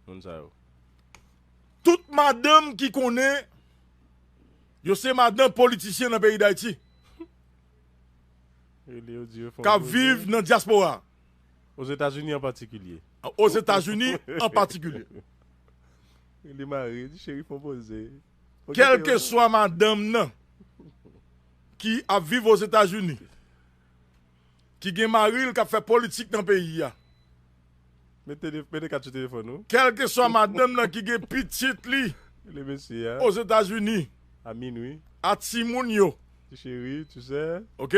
moun sa yo. Tout madanm ki konnen yo se madan politisyen nan peyi Dayiti. Kap viv nan dyaspora. Ozetazini an patikilye. Ozetazini an patikilye. Li mare, di cheri fon poze. Kèlkeswa madanm nan ki ap viv Ozetazini, ki gen mari l kap fè politik nan peyi a. Mete kat sou telefòn ou. Kèlkeswa madanm nan ki gen pitit li Ozetazini, a timoun yo, ok,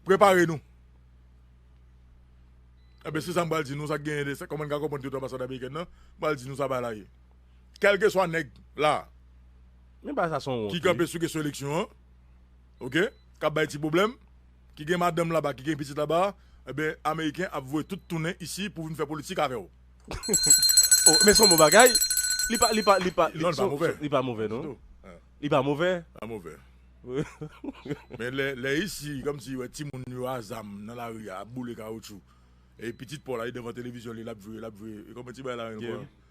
prepare nou. Enben, se sa m pral di nou, sa k genyen, kòman n ka konprann tout anbasad amerikèn nan, m pral di nou sa bagay la ye. Kèlkeswa nèg la a ki kanpe sou kesyon eleksyon an, ok, k ap bay ti pwoblèm, ki gen madanm laba ki gen pitit laba ebyen ameriken ap voye tout tounen isi pou vin fè politik avèw. Oh men son bon bagay li pa li pa li pa Non li pa move li pa move non ditou li pa move li pa move men lè lè isi komsi wè timoun yo a zam nan lari a ap boule kawoutchou e pitit paw la li devan televizyon li lap jwe lap jwe koman ti bagay la rele ankò.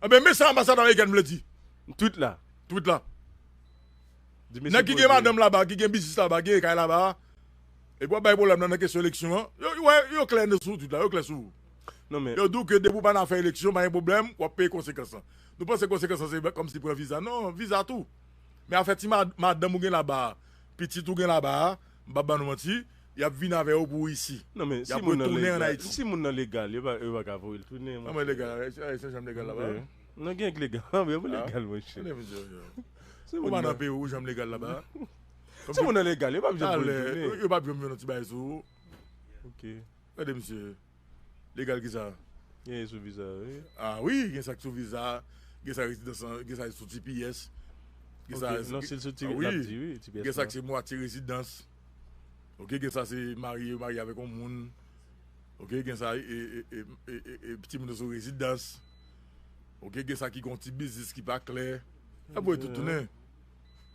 Ebyen men sa anbasad amerikèn vle di. Tweet la. Tweet la. Nèg ki gen madanm laba, ki gen biznis laba, ki gen kay laba a, epi wap bay pwoblèm nan nan kesyon eleksyon an, yo wè, yo klè nan sou tweet la, yo klè sou ou. Non men. Yo di w ke depi w pa nan afè eleksyon, pa gen pwoblèm, wap peye konsekans lan. Nou panse konsekans lan se kòmsi pran viza. Non, viza tou. Men afè ti madanm ou gen laba a, pitit ou gen laba a. M pap ba nou manti, yap vin avè yo pou isi. Non men si moun nan legal, si moun nan legal yo pa yo pa ka voyel tounen monchè. Kòman legal la, e se janm legal la ba a? Non gen k legal la vre, ou legal monchè. Si moun nan Perou ou janm legal la ba a? Si moun nan legal yo pap janm voyel tounen. Yo pap janm vin yon ti bagay sou ou. Ok. Gade misye. Legal kisa? Gen e sou viza yo wi. Ah wi gen sa ki sou viza, gen sa rezidans lan, gen sa ki sou tps. Gen sa Ok non sil sou tps lap di wi tps lan. Gen sa ki se mwatye rezidans. Ok gen sa se marye yo marye avèk yon moun. Ok gen sa e timoun yo sou rezidans. Ok gen sa ki gon ti biznis ki pa klè. Lap voye tout tounen.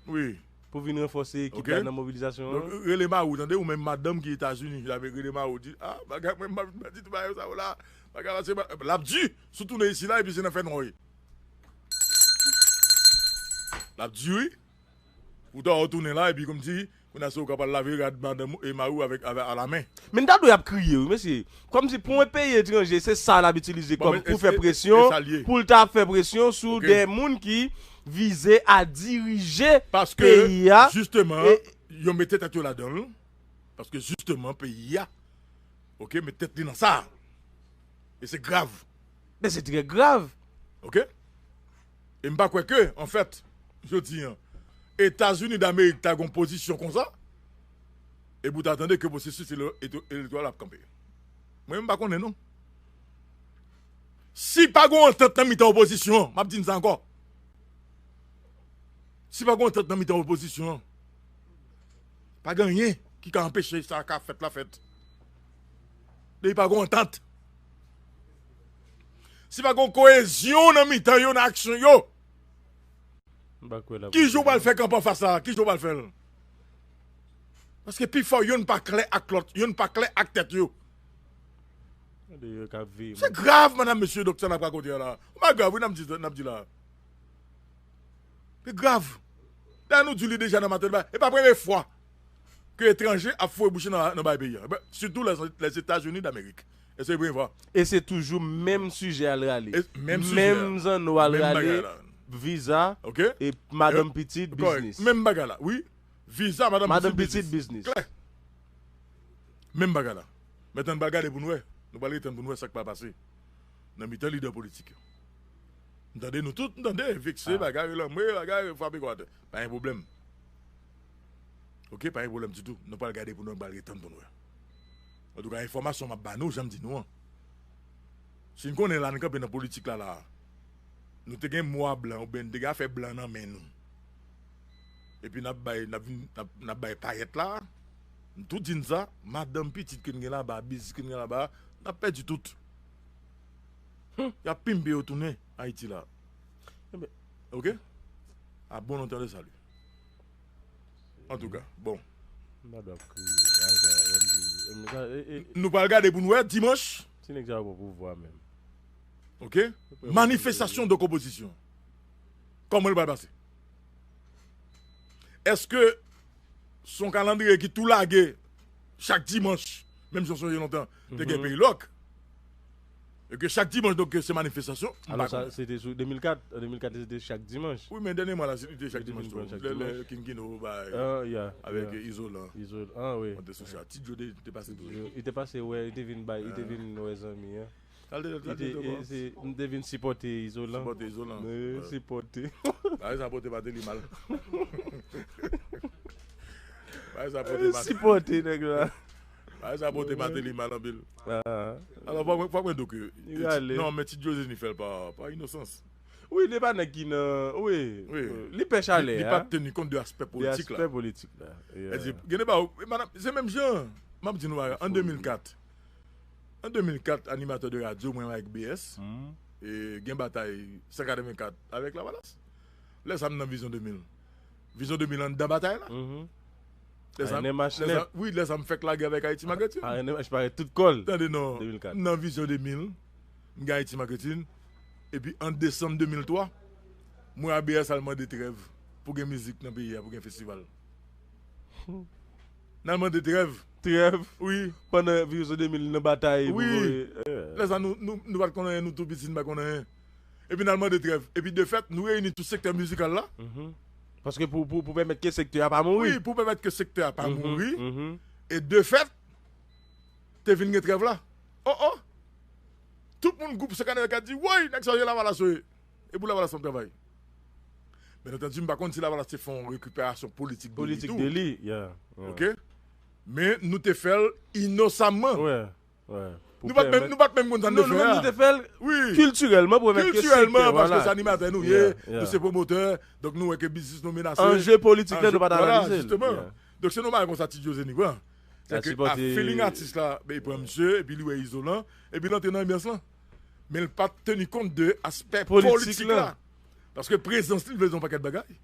wi. Pou vin ranfòse ekip la nan mobilizasyon an. Donk rele mari w tande ou menm madanm ki etazini rele mari w di a bagay mwen pa vin pèdi tout bagay sa yo la bagay la se bagay lap di sou tounen isi la epi se nan fè nwa wi lap di wi ou ta wè w tounen la epi kòmsi Menas ou ka pral lave rad madanm ou e mariw avek a la men. Min ta dwe ap kriye wi mesye. Komsi pou yon peyi etranje se sa lap itilize kom pou fè presyon poul ta ap fè presyon sou de moun ki vize a dirije peyi a. Jisteman yo mete tet yo ladanl paske jisteman peyi a ok met tet li nan sa e se grav. Men se trè grav. Ok. E m pa kwè ke, an fèt, jodi an, Etazini Damerik ta gen yon pozisyon konsa, epi ou ta tande ke pwosesis elektoral ap kanpe. Mwen menm m pa konnen non. Si pa gen yon antant nan mitan opozisyon an, m ap di n sa ankò, si pa gen yon antant nan mitan opozisyon an, pa gen anyen ki ka anpeche sa ka fèt la fèt. Depi pa gen yon antant. Si pa gon koyezyon nan mitan yo nan aksyon yo, ki jan w pral fè kanpe anfas la? Ki jan w pral fè l? Paske pifò yonn pa klè ak lòt, yonn pa klè ak tèt yo. Se grav madam mesye dok sa nap rakonte a la Yon bagay grav wi nap di nap di la Se grav Dayè nou di li deja nan maten e pa premye fwa ke etranje ap foure bouche nan bay peyi an, sitou Lèzetazini Damerik. Èske se vre, Eva? E se toujou menm sijè al rale. Menm sijè. Menm zanno al rale, viza, e madanm pitit, biznis. Kòrèk. Menm bagay la. Wi. Viza, madanm pitit, biznis. Madanm pitit, biznis. Klè. Menm bagay la. Mèt ann pral gade pou n wè. Nou pral ret ann pou n wè sa k pral pase nan mitan lidè politik yo. N tande nou tout, n tande, vekse, bagay, relanme, bagay, frape kò atè. Pa gen pwoblèm. ok pa gen problèm ditou nou pral gade pou nou pral gen tann poun wè antouka enfòmasyon map ba nou janm di nou an sin konnen la nou kanpe nan politik la la nou te gen mwa blan oubyen nou te gen afè blan nan men nou epi nap bay nap vin nap bay payèt la nou tout di nou sa madanm pitit ke nou gen laba biznis ke nou gen laba nap pèdi tout humm yap pimpe yo tounen ayiti la ok a bon antann de salu. Antouka bon. M pa dwe ap kriye. Nou pral gade pou nou wè dimanch. Ti nèg sa yo pran pouvwa menm. Ok manifestasyon donk opozisyon an kòman li pral pase? Eske se yon kalandriye ki tou lage chak dimanch menm jan sonje lontan te gen peyi lòk E ke chak dimanch donk se manifestasyon? M pa konnen. Se te sou 2004, an 2004 se te chak dimanch. Wi men dènyèman la li te chak dimanch tou. Lè King Kino bay avèk Izolan. Izolan wi. Mwen te sou sa. Ti Djo te pase tou. Li te pase wè, li te vin bay, li te vin wè zanmi an. Sa l te fè te tou ankò? Li te vin sipòte Izolan. Sipòte Izolan. Wi wi, sipòte. Bagay sa pote Martelly mal. Bagay sa pote Martelly. Sipòte nèg la. Bagay sa pote Martelly mal anpil. Alò fòk mwen di w ke non men ti Dioseny fè l pa inosans. Wi li pa nèg ki nan wi li pè chalè a. Li pa teni kont de aspè politik la. De aspè politik la. Gen de bagay madame se menm jan m ap di nou bagay an 2004 an 2004 animatè de radyo mwen avèk BS gen batay 184 avèk lavalas lè sa m nan vizyon 2000. Vision 2000 anndan batay la. Wi lè zam fèk lage avèk Ayiti Maketin. ANMH parèt tout kò l. Tande non. M nan Vision 2000, m gen Ayiti Maketin. Epi an desanm 2003, m wè ABS al mande trèv pou gen mizik nan peyi a, pou gen festival. N al mande trèv. Trèv? Wi. Pandan Vision 2000 nan batay pou voye. Wi. Lè sa nou pa t konn anyen, nou tou piti, nou pa t konn anyen. epi n al mande trèv. Epi de fèt, nou reyini tout sektè mizikal la. Paske pou pou pèmèt ke sektè a pa mouri. Wi, pou pèmèt ke sektè a pa mouri. E de fèt, te vin gen trèv la. O o! Tout moun gwoup Sekan Elka di, Woy! Nèg sa yo se Lavalas yo ye. E pou Lavalas m ap travay. Byen antandu, m pa konn si Lavalas te fè yon rekiperasyon politik de li tou. Politik de li, ya. Ok? Men, nou te fè l inosamman. Nou pat menm nou pat menm konn sa n te fè a. Non nou menm nou te fè l kiltirèlman pou remèt ke sektè w ala. Paske se animatè nou ye, nou se pwomotè, donk nou wè ke biznis nou menase. Anje politik la nou pat analize l. Vwala jisteman. Donk se nou bay konsa Ti Josenie pran. Se ke a feeling atis la bey pran misye epi li wè Izolan epi l antre nan anbyans lan. Men l pat teni kont de aspè politik la. Paske prezans li vle di yon pakèt bagay.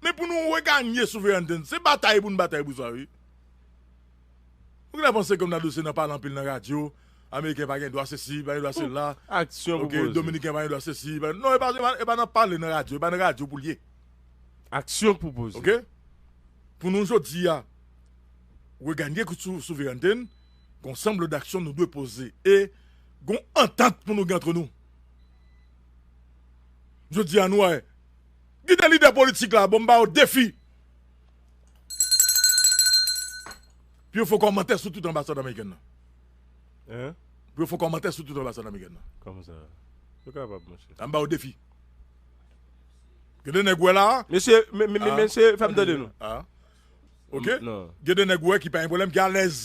Men pou nou reganye souverènte n, se batay pou n batay pou sa wi. Ou genlè panse kòm Dadou se nan pale anpil nan radyo, ameriken pa gen dwa sesi, pa gen dwa sela, ok, dominiken pa gen dwa sesi, pa gen, non e pa nan pale nan radyo, e pa nan radyo pou l ye. Aksyon pou poze. Ok, pou nou jodi a reganye souverènte n, gon sanble daksyon nou dwe poze e gon antant pou nou gen antre nou. Jodi a nou wè Gide lidè politik la bon m ba yo defi pou yo fè yon kòmantè sou tout anbasad amerikèn nan. Hein? Pou yo fè yon kòmantè sou tout anbasad amerikèn nan. Kòman sa? Yo kapab monchè. An m ba yo defi. Gen de nèg wè la. Mesye, mesye fè m tande nou. Ah. Ok? Non. Gen de nèg wè ki pa gen pwoblèm ki alèz.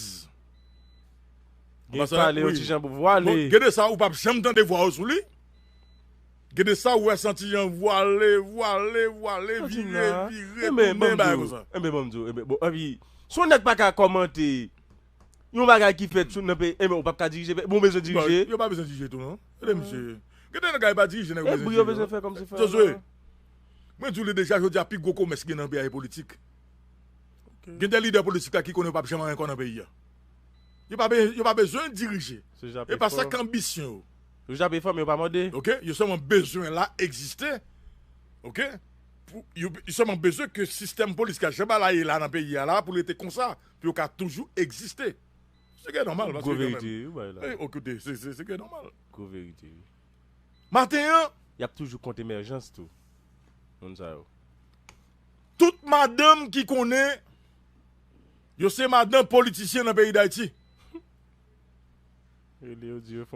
Gen pale yon ti jan pou vwa li. Gen de sa ou pap janm tande vwa yo sou li. Gen de sa ou wè santi jan vwale vwale vwale vire vire tounen bagay konsa. Enben banm diw enben bon epi si yon nèg paka kòmante yon bagay ki fèt sou nan peyi enben ou pap ka dirije peyi bon ou bezwen dirije. Yo pa bezwen dirije tou non ede misye gen de nèg yo pa dirije nèg yo bezwen dirije non Josué mwen diw li deja jodia pi gwo komès ki gen nan peyi a se politik gen de lidè politik la ki konnen yo pap janm anyen kò nan peyi a yo pa bezwen dirije e pa sa ki anbisyon yo. Yo jape fò men yo pa mòde. Ok yo sèlman bezwen la egziste ok pou yo sèlman bezwen ke sistèm polis ka jan bala ye la nan peyi a la pou l rete konsa pou yo ka toujou egziste se gen nòmal paske gwo verite wi ou bay la ok koute se se se gen nòmal gwo verite wi maten an yap toujou kont emèjans tou moun sa yo. Tout madanm ki konnen yo se madan politisyen nan peyi dayiti.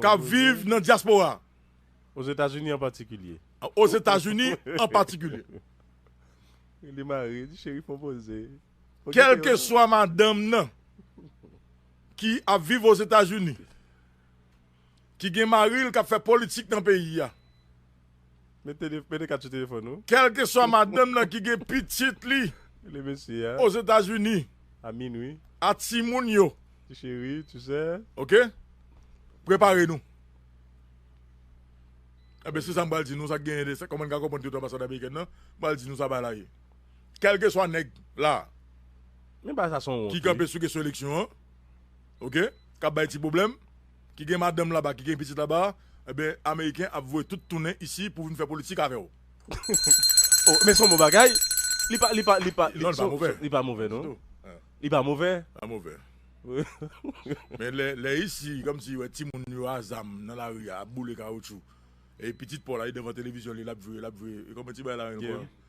k ap viv nan dyaspora a. Ozetazini an patikilye. Ozetazini an patikilye. Kèlkeswa madanm nan ki ap viv Ozetazini, ki gen mari l k ap fè politik nan peyi a. Mete kat sou telefòn ou. Kèlkeswa madanm nan ki gen pitit li Ozetazini, a timoun yo, ok, prepare nou. Enben, se sa m pral di nou, sa k genyen, kòman n ka konprann tout anbasad amerikèn nan, m pral di nou sa bagay la ye. Kèlkeswa nèg la ki kanpe sou kesyon eleksyon an, ok, k ap bay ti pwoblèm, ki gen madanm laba ki gen pitit laba ebyen ameriken ap voye tout tounen isi pou vin fè politik avèw. Oh men son bon bagay li pa li pa li pa Non li pa move li pa move non ditou li pa move li pa move men lè lè isi komsi wè timoun yo a zam nan lari a ap boule kawoutchou e pitit paw la li devan televizyon li lap jwe lap jwe kòman ti bagay la menm yeah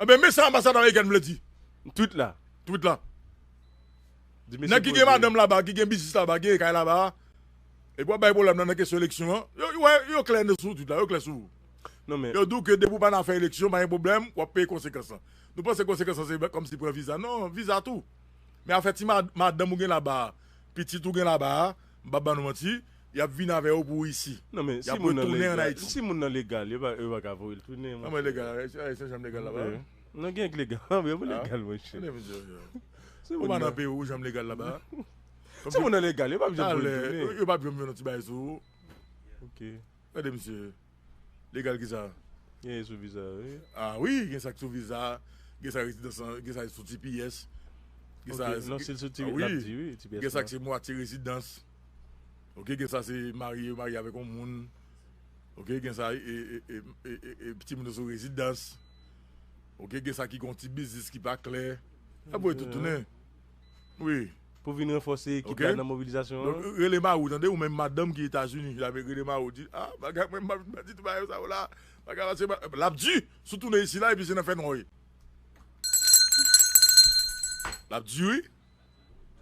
Ebyen men sa anbasad amerikèn vle di. Tweet la. Tweet la. Di mesye poze. Nèg ki gen madanm laba, ki gen biznis laba, ki gen kay laba, epi wap bay pwoblèm nan nan kesyon eleksyon an, yo wè, yo klè nan sou tweet la, yo klè sou. Non men. Yo di w ke depi w pa nan afè eleksyon, pa gen pwoblèm, wap peye konsekans lan. Nou panse konsekans lan se kòmsi pran viza. Non, viza tou. Men afè ti madanm ou gen laba a, pitit ou gen laba a, M pap ban nou manti, y ap vin avè yo pou Risi. Non men, si moun nan legal, si moun nan legal, yo pa, yo pa ka voye l tounen, monchè. Kòman legal? Ayisyen janm legal laba a? Non gen k legal, anben pou legal monchè. Ou pa nan peyi w ou janm legal laba a? Si moun nan legal, yo pap janm voye l tounen. Yo pap janm fè yon ti bagay sou ou. Ok. Gade misye legal kisa. Gen e sou viza a wi. Ah wi gen sak sou viza a gen sa rezidans lan gen sa sou tps gen sa ok non sil sou tps lap di wi tps lan gen sak se mwatye rezidans ok gen sa se marye yo marye avèk yon moun ok gen sa e timoun yo sou rezidans ok gen sa ki gon ti biznis ki pa klè nap wè tout tounen wi. Pou vin ranfòse ekip la nan mobilizasyon an. Donk rele mariw tande ou menm madanm ki etazini avek rele mariw di ah bagay mwen map vin pèdi tout bagay sa yo la bagay la se bagay lap di sou tounen isi la epi se nan fènwa wi lap di wi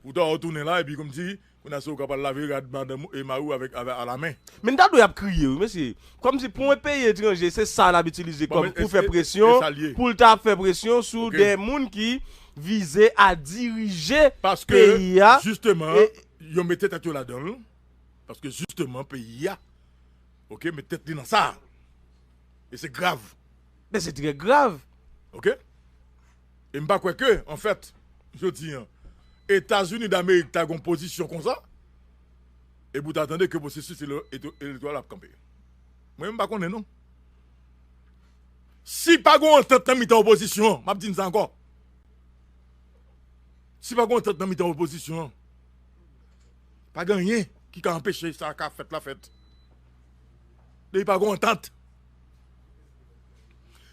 ou ta wè ou tounen la epi kòmsi kounye a se ou kap al lave rad madanm ou e mariw avèk a la men. Men ta dwe ap kriye wi mesye kòmsi pou yon peyi etranje se sa lap itilize kòm pou fè presyon poul ta ap fè presyon sou de moun ki vize a dirije peyi a e. Yo mete tèt yo ladan l, paske jisteman peyi a ok met tèt li nan sa a e se grav. Men se trè grav. Ok e m pa kwè ke anfèt jodi an Etazini damerik ta gen yon pozisyon konsa e pou w ta tande ke pwosesis elektoral ap kanpe. Mwen menm m pa konnen non. Si pa gon antant nan mitan opozisyon an, map di n sa ankò, si pa gon antant nan mitan opozisyon an, pa gen anyen ki ka anpeche sa ka fèt la fèt. Depi pa gon antant,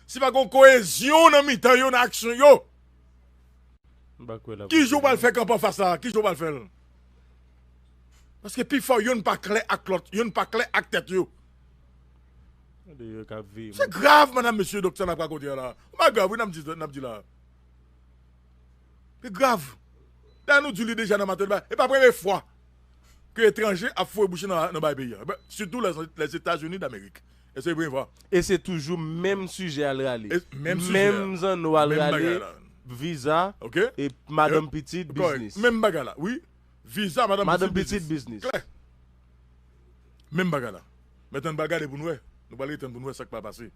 si pa gon koyezyon nan mitan yo nan aksyon yo, ki jan w pral fè kanpe anfas la, ki jan w pral fè l? Paske pifò yonn pa klè ak lòt, yonn pa klè ak tèt yo. Se grav madam mesye dok sa nap rakonte a la ou pa grav wi nap di nap di la li grav dayè nou di li deja nan maten e pa premye fwa ke etranje ap foure bouche nan nan bagay peyi a sitou lèzetazini damerik èske se premye fwa e se toujou menm sijè al rale menm sijè menm zanno al rale viza ok e madanm pitit biznis menm bagay la wi viza madanm pitit biznis klè. Menm bagay la. Men tann pral gade pou n wè. Nou pral ret tann pou n wè sa k pral pase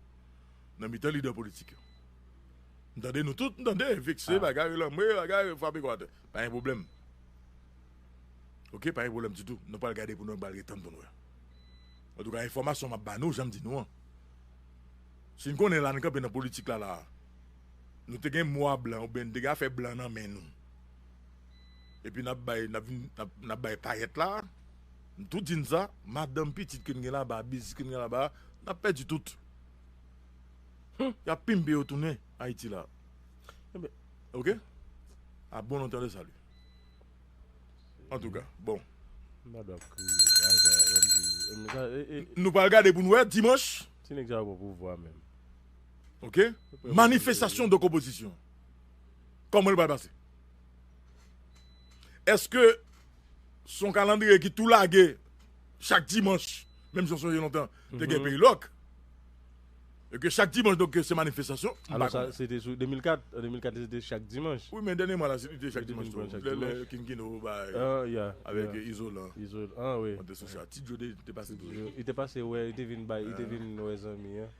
nan mitan lidè politik yo. M tande nou tout, m tande, vekse, bagay, relanme, bagay, frape kò atè. Pa gen pwoblèm. Ok, pa gen pwoblèm ditou. Nou pral gade pou n wè, nou pral ret tann pou n wè. Antouka, enfòmasyon m ap ba nou, jan m di nou an, si n konnen la n kanpe nan politik la la a, nou te gen mwa blan oubyen n te gen afè blan nan men nou, Epi nap bay nap vin nap bay payèt la m tou di n sa madanm pitit ke n gen laba biznis ke n gen laba nap pèdi tout humm yap pimpe yo tounen ayiti la enben ok a bon entendeur salut antouka bon. Mad wap kriye la sa OMG. Nou pral gade pou nou wè dimanch. Ti nèg sa yo pran pouvwa menm. Ok manifestasyon de konpozisyon kòman li pral pase. Eske son kalandriye ki tou lage chak dimanch, menm jan sonje lontan te gen peyi lòk. E ke chak dimanch donk se manifestasyon. Alò sa se te sou 2004, an 2004 li se te chak dimanch. Wi men dènye mwa la li te chak dimanch tou. Lè King Kino bay avèk Izolan. Izolan wi. An te sou sa. Ti Djo te pase tou. Li te pase wè, li te vin bay, li te vin wè zanmi an.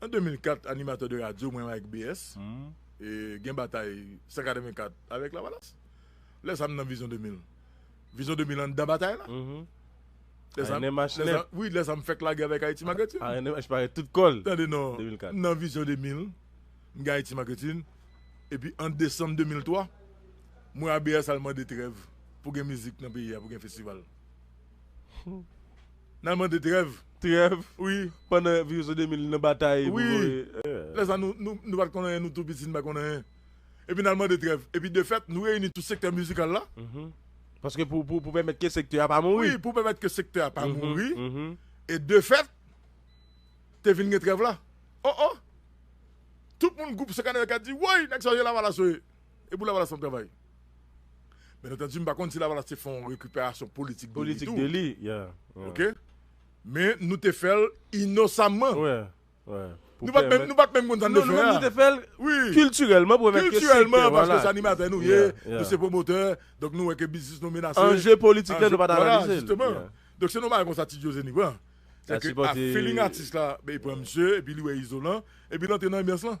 An 2004 animateur de radio mwen ak BS gen batay 184 avèk lavalas lè sa m nan vizyon 2000 vizyon 2000 anndan batay la lè sa wi lè sa m fèk lage avèk Haiti Marketing ANMH parèt tout kò l tande non m nan vizyon 2000 m gen Haiti Marketing epi an desanm 2003 mwen ak BS al mande trèv pou gen mizik nan peyi a pou gen festival. Nal mande trèv. Trèv wi pandan viris ou 2000 nan batay pou voye. Wi lè sa nou pat konn anyen nou tou piti nou pa konn anyen epi nal mande trèv epi defèt nou reyini tout sektè mizikal la paske pou pèmèt ke sektè a pa mouri wi pou pèmèt ke sektè a pa mouri e defèt te vin gen trèv la oh oh tout moun gwoup sekanè yo ka di woy nèg sa yo se lavalas yo ye e pou lavalas nap travay. Byen antandi m pa konn si Lavalas te fè yon rekiperasyon politik de li tou. Ok. Men nou te fè l inosamman. Nou pa t menm konn sa n te fè a. Non, nou te fè l kiltirèlman pou mèt ke sektè. Kiltirèlman paske se animatè nou ye, nou se pwomotè, donk nou wè ke biznis nou menase. Anje politik la nou pa t analize l. Vwala, jisteman. Donk se yon bagay konsa Ti Jozeni pran. Se ke a feeling atis la, e pran misye, epi li wè Izolan, epi l antre nan anbyans lan.